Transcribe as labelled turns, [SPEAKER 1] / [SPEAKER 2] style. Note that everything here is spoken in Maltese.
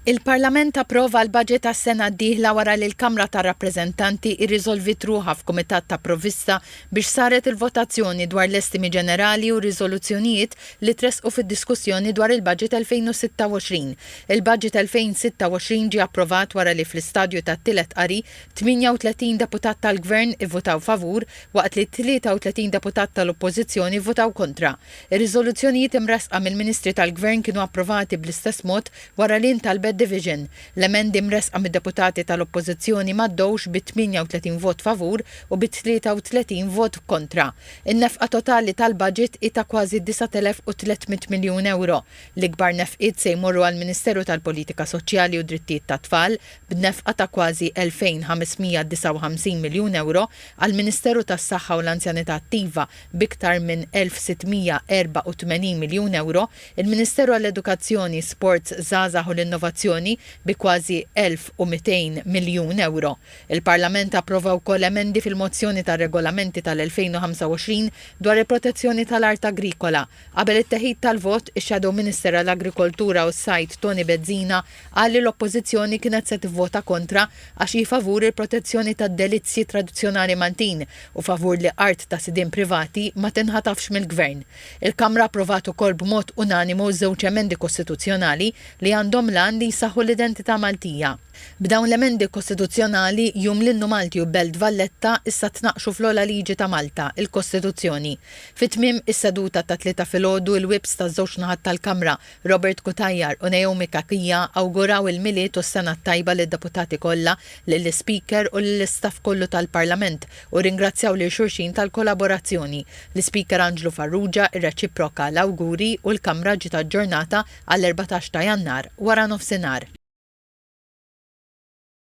[SPEAKER 1] Il-Parlament approva l-baġit għas-sena d-dieħla wara li l-Kamra tar-Rappreżentanti irriżolviet ruħha f'Kumitat ta' Provvista biex saret il-votazzjoni dwar l-estimi ġenerali u r-riżoluzzjonijiet li tressqu fid-diskussjoni dwar il-baġit 2026. Il-baġit 2026 ġie approvat wara li fl-istadju tat-tielet qari 38 deputat tal-Gvern ivvutaw favur waqt li 33 deputat tal-Oppożizzjoni vvutaw kontra. Ir-riżoluzzjonijiet imressqa mill-Ministri tal-Gvern kienu approvati bl-istess mod wara li ntalbet division. L-emendi mressqa mid-deputati tal-Oppożizzjoni m'għaddewx bi 38 vot favur u bi 33 vot kontra. In-nefqa totali tal-baġit hi ta' kważi 9,300 miljun ewro. L-ikbar nefqiet se jmorru għall-Ministeru tal-Politika Soċjali u Drittijiet tat-Tfal, b'nefqa ta' kważi 2,559 miljun ewro, għall-Ministeru tas-Saħħa u l-Anzjanità Attiva, B'iktar minn 1,684 miljun ewro, il-Ministeru għall-Edukazzjoni, Sports, Żgħażagħ u l-Innovazzjoni bi kważi 1,200 miljun ewro. Il-Parlament approva wkoll emendi fil-Mozzjoni tar-Regolamenti tal-2025 dwar il-protezzjoni tal-art agrikola, Qabel it-teħid tal-vot, ix-Shadow Minister għall-Agrikoltura u s-Sajd Toni Bezzina qal li l-Oppożizzjoni kienet se tivvota kontra għax hi favur il-protezzjoni tad-delizzji tradizzjonali Maltin u favur li art ta' sidien privati ma tinħatafx mill-Gvern. Il-Kamra approvat ukoll b'mod unanimu żewġ emendi kostituzzjonali li għandhom l-għan li jsaħħu l-identità Maltija. B'dawn l-emendi kostituzzjonali, jum li nnu Malti u Belt Valletta issa tnaqqxu fl-ogħla liġi ta' Malta, il-Kostituzzjoni. Fi tmiem is-seduta ta' Tlieta filgħodu l-Whips taż-żewġ naħat tal-Kamra, Robert Cutajar u Naomi Cachia awguraw il-Milied u s-Sena t-Tajba lid-Deputati kollha, lill-Ispeaker u lill-istaff kollu tal-Parlament u rringrazzjaw lil xulxin tal-kolaborazzjoni. L-Ispeaker Anġlu Farrugia rreċiproka l-awguri u l-Kamra ġiet aġġornata għall-erbatax ta' Jannar waranofsinhar.